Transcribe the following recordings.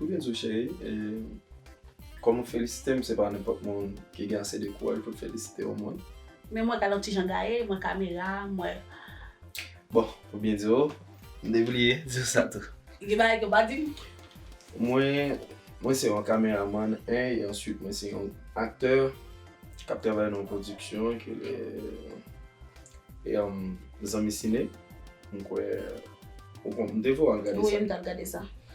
Ou gen zo cheri, e kòm ou felisitem se pa nenpòt moun ki gen ase de kouraj pou l felisite yon moun. Men mwen gad yon ti jan gaye, mwen kamera, mwen. Bon, pou byen di w, m te bliye di w sa tou. Gen bagay ke w pa di m? Mwen, mwen se yon kameramann 1 e answit mwen se yon aktè k ap travay nan yon pwodiksyon ki rele e Zanmi Sine. M kwè ou konn, m te vè w al gade sa. Wi, m t al gade sa.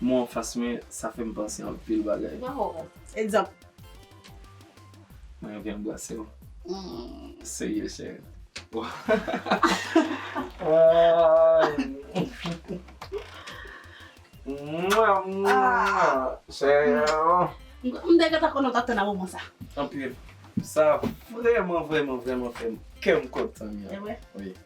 Mwen an fas mwen, sa fè m panse anpil bagay. Waw! Egzanp? Mwen anvi anbrase w. Serye cheri. M te gentan konnen w t ap tann a moman sa. Anpil. Sa vreman vreman vreman fè kè m kontan. Evre? Wi.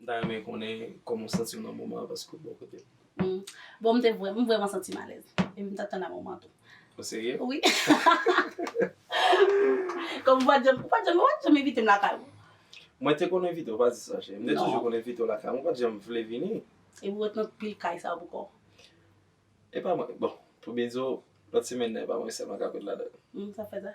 M ta renmen konnen kòman w santi w nan moman an paske w bò kote m. Hum bon m te vrèman m vrèman santi m alèz epi m tap tann amoman an tou. O serye? Wi Kòm ou pat janm ou pat janm ou pat janm envite m lakay ou. Mwen te konn envite w pa di sa cheri. M te toujou konn envite w lakay m ou pat janm vle vini. Epi ou ret nan pil kay sa yo pou kò w. Epa mwen bon pou byen di w lòt semèn nan epa mwen sèlman kap ret ladan l. Hum sa fè sa?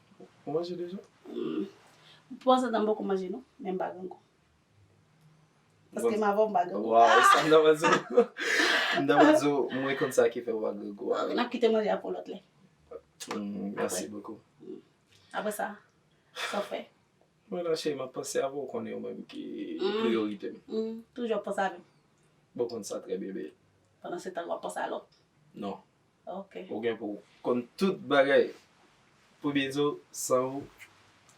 Ou manje deja? Mwen panse m ta poko manje non, men m pa gen gou. Paske m avè w m pa gen gou. Wa, e sa m ta pral di w. M ta pral di w mwen konn sa ki fè ou pa gen gou a. N ap kite manje a pou lòt lè. Mèsi bokou. Apre sa, sa w fè? Mwen la cheri, m ap panse avè w, ou konnen ou menm ki priyorite m. Toujou ap panse avè m. Bon, ou konn sa trè byen byen. Pandan se tan, w ap panse a lòt? Non. Ok. Ou gen pou konn tout bagay. Premye di w san ou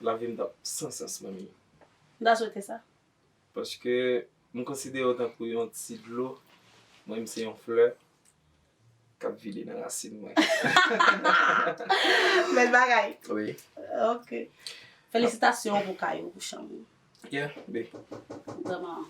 lavi m t ap san sans manmi. M ta swete sa. Paske m konsidere w tankou yon ti dlo, mwen m se yon flè k ap vide nan rasin mwen. Bèl bagay. Wi. Ok. Felisitasyon pou kay ou, pou chanm ou. Yeah, bae. Vrèman.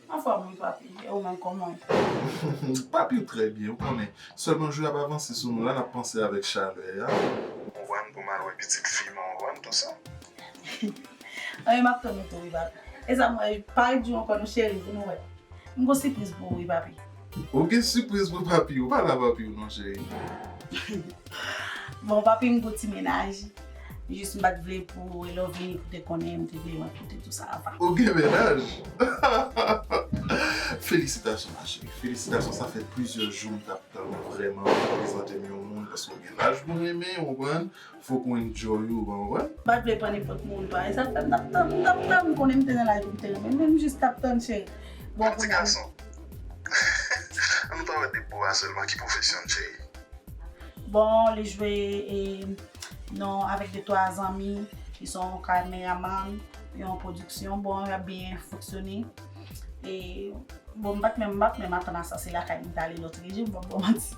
Anfòm wi papi, e ou menm kòman ou ye? Papi trè byen, ou konnen. Sèlman jou a ap avanse sou nou la, n ap panse avèk chalè a. Ou wè m pou m al wè pitit fi m an, ou wè m tou sa. Anyen, m ap tann ou tou wi papi. E sa m wè, pare di w ankò non cheri, vin wè. M gen yon sipriz pou ou wi papi. Ou gen sipriz pou papiw, pa la papiw non cheri. Bon papi m gou ti menaj, jis m pat vle pou Elovin te konnen m te vle mwen pote tou sa avan. Ou gen menaj? Hahahaa Felisitasyon ma cheri, felisitasyon sa fè plizyè jou m tap tann ou vrèman pou prezantem yon moun paske ou gen laj mwen renmen ou konprann, Fok mwen enjoy ou bon wi. Pat vle pran nenpòt moun pa esa fèm tap tann ou tap tann ou konnen m te nan laj poum te renmenw menm jis tap tann cheri bon kounye a m. An nou pa wè de bo a selman ki profesyon l cheri. Bon li jwe nan avèk de twa zanmi li son kameraman yon production bon yap byen fonksyone. Bon m pat menm m pat menm atann a sa se lakay m t ale lotre jou m pap ba w manti.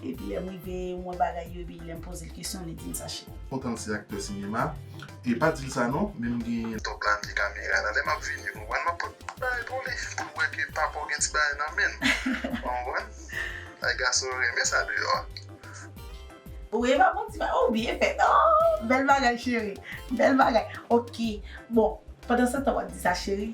Epi lè m rive m wè bagay yo epi lè m poze l kesyon li di m sa cheri. Kontan l se aktè sinema. E pa di l sa non men m gen. Tòg la pye kamera la. Lè m ap vini ou konprann m ap pot ti bagay pou li pou l wè ke papa w gen ti bagay nan men l. Ou konprann? Ay gason yo renmen sa deyò a. Ou e pa pot ti bagay. Ou byen fèt. Aww bèl bagay cheri. Bèl bagay. Ok bon pandan se tan w ap di sa cheri.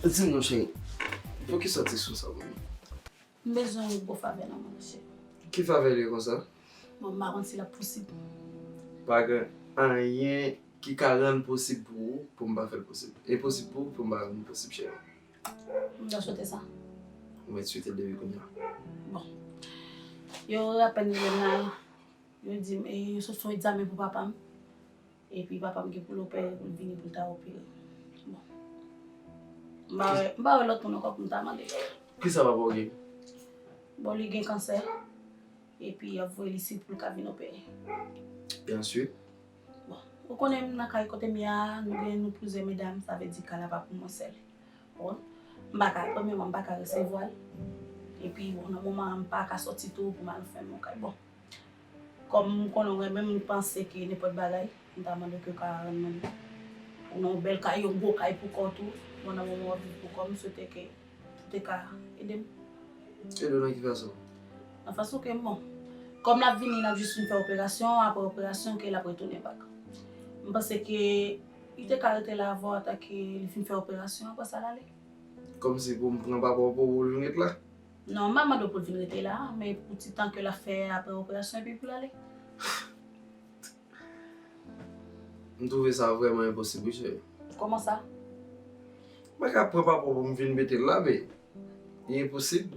Di m non cheri, pou ki sa w te sou sa pou m? M bezwen yon gwo favè nan men w cheri. Ki favè li konsa? Bon m pa konn si l ap posib. Pa gen anyen ki ka rann posib pou ou pou m pa fè l posib. Enposib pou ou pou m pa rann li posib cheri. M ta swete sa. M mèt swete l depi kounya. Bon. Yo apèn rive nan, yo di m e se sou egzamen pou papa m. Epi papa m gen pou l opere pou l vini pou l ta opere. Bon. M pa wè, m pa wè lòt moun ankò pou m ta mande. Kisa papa w gen? Bon li gen kansè. Epi y ap voye l isit pou l ka vin opere. E answit? Bon, ou konnen m nan kay kote m ye a, nou gen nou plizyè medam, sa vle di kay la pa pou mwen sèl. Bon, m pa ka, premyèman m pa ka resevwa l. Epi bon nan moman an m pa ka soti tou pou m al fèmen yon kay. Bon. Kòm m konnen w renmen m, m panse ke nenpòt bagay, m ta mande w ke w ka rann mwen li. Ou nan yon bèl kay, yon gwo kay pou kò w tou. Mwen nan moman w ap viv pou kò w, m swete ke ou te ka ede m. Ede w nan ki fason? Nan fason ke bon, kòm l ap vini, l ap jis fin fè operasyon, aprè operasyon ke l ap retounen bak. M panse ke li te ka rete la avè w atake li fin fè operasyon, aprè sa l ale. Kòm se pou m pran papa w pou ou l vin ret la? Non, m'a mande pou l vin rete la, men pou ti tan ke l'ap fè aprè operasyon epi pou l'ale. M twouve sa vrèman enposib wi cheri. Kòman sa? M pa ka pran papa w pou m vin mete l la men, li enposib.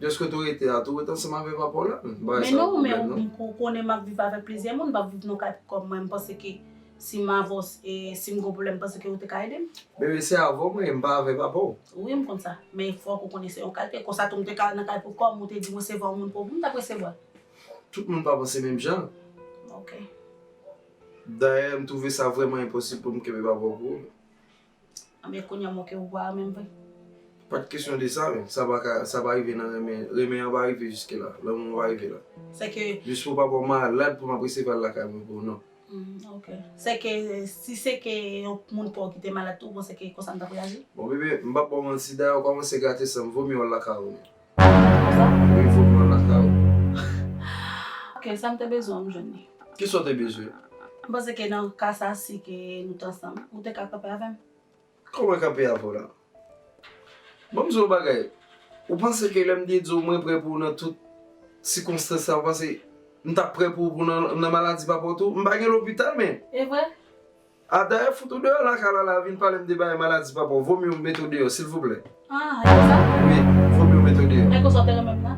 Dèske tou rete a, tou rete ansanm avè papa w la menm. Men non, men ou konnen m'ap viv avèk plizyè moun, m'pap viv nan kay pou kòm mwen, m panse ke Si m avos e si m gon pwoblem panse ke ou te ka edem? Bebe se avò mwen e m pa avè papa w. Wi m konn sa. Men fok ou konnen se yon kalte. Konsa tou m te ka al nan kay pou kòm ou te di m resevwa yon moun pou m tap resevwa l. Tout moun pa panse menm jan. Ok. Dayè m twouve sa vreman enposib pou m kenbe papa w pou ou. Anben kounye a moke ou pwa a menm vre. Pat kesyon de sa menm, sa paka, sa pa rive nan renmen, renmen an pa rive jiske la, lanmou an pa rive la. Sèke. Jis pou papa w malad pou m ap resevwa l lakay mwen pou w non. Ok. Sèke si se ke yon moun pa w ki te malad tou bon sèke konsa m t ap reyaji? Bon bebe, m pap ba w manti, dayè ou kòmanse gate san m, vomye w lakay ou menm. Voye foto nan las la ou. Ok sa m te bezwen an m jwenn li. Ki sa w te bezwen? M panse ke nan ka sa si ke nou t ansanm ou te ka kanpe avè m. Kòman mwen kanpe avè w la? Bon m di w yon bagay, ou panse ke lè m te di w mwen prè pou ou nan tout sikonstans sa ou panse m t ap prè pou ou nan maladi papa w tou? M pa gen lopital men. E vre? Ah dayè fout ou deyò lakay la la vin palem de bagay maladi papaw vomiw mete w deyò silvouplè Ah e konsa? Wi vomiw mete w deyò. E konsa w te renmenm la?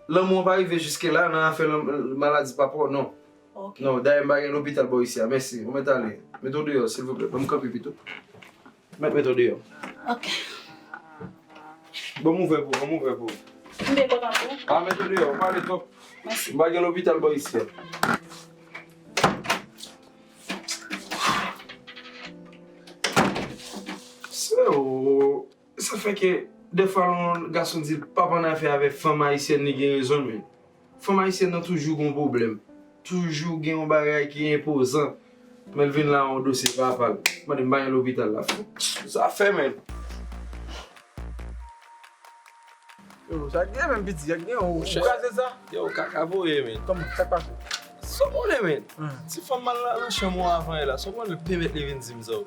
Lanmou an pa rive jiske la nan afè maladi papaw non Ok. Non dayè m pa gen lopital bò isi a mèsi ou mèt ale mete w deyò silvouplè banm kanpe pito. Mèt mèt ou deyò. Ok. Banm ouvè pou, banm ouvè pou. Kenbe kòt an tou. Ah mèt ou deyò, ou pale twòp. Mèsi. M pa gen lopital bò isi a. Sè ou, sa fè ke dèfwa lè yon gason di l pap annafè avèk fanm ayisyèn li gen rezon l men. Fanm ayisyèn nan toujou gon pwoblèm. Toujou gen yon bagay ki enpozan. Men l vin la yon dosye papa l. Mande m pa gen lopital la fou. Sa fè menm. Yo sa gen menm piti. Sa gen ou kraze sa. Yo kaka voye menn. Kòman sa k pase. Sa w konnen menn. Ti fanm m al nan chanm ou avan yè la. Sa w konnen pèmèt li vin di m sa w.